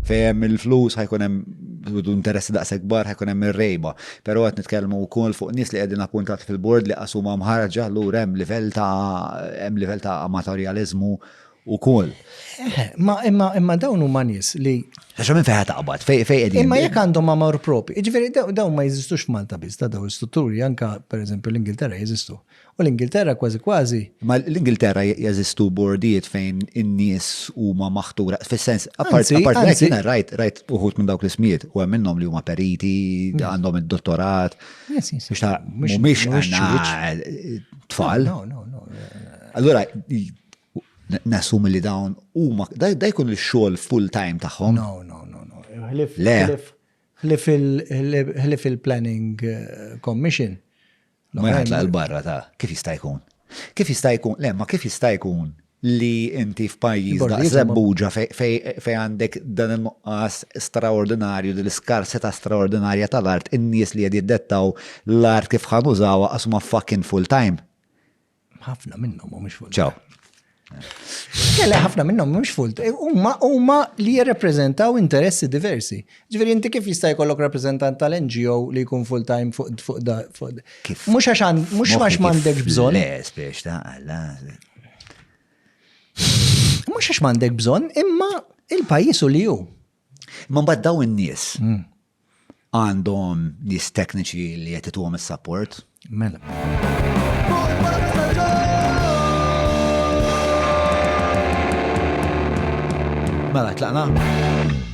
Fejem il-flus ħajkun hemm interessi daqshekk kbar ħajkun hemm ir-rejba. Però qed nitkellmu wkoll fuq nies li qegħdin appuntati fil-bord li qasuma mħarġa lura hemm livell ta' hemm livell ta' amatorjaliżmu wkoll. Eh, ma imma imma dawn huma nies li Għax minn fejn taqbad, fejn fejn qegħdin. Imma jekk għandhom amor propi, jiġifieri dawn ma jeżistux f'Malta biss, ta' dawn l-istrutturi anka pereżempju l-Ingilterra jeżistu. U l-Ingilterra kważi kważi. Imma l-Ingilterra jeżistu bordijiet fejn in-nies huma maħtura fis-sens apart hekk jiena rajt rajt uħud minn dawk l-ismijiet u hemm minnhom li huma periti, għandhom id-dottorat. Mhumiex tfal. Allura nassum li dawn huma da jkun ix-xogħol full time tagħhom. No, no, no, no. Ħlif il-planning eh, commission Ma jħatlaq il-barra ta' kif jista' jkun. Kif jista' jkun, le, ma kif jista' jkun li inti f'pajjiż da' Żebbuġa fejn għandek dan in-nuqqas straordinarju, din l-iskarsità straordinarja tal-art, in-nies li qed jiddettaw l-art kif ħa nużawha għax huma fucking full-time. ħafna minnhom mhumiex full. Ċaw. Kelle ħafna minnhom mhux full. E, huma huma li jirrepreżentaw interessi diversi. Ġifieri inti kif jista' jkollok rappreżentant tal-NGO li jkun full time fuq fuq da fuq. Kif? Mhux għax mhux għax m'għandek bżonn. Le, spiex ta' alla. Mhux għax m'għandek bżonn, imma il-pajjiż u li hu. Imma mbagħad daw in-nies hmm. għandhom nies tekniċi li qed ituhom is-support. Mela. Mela, tlaqna?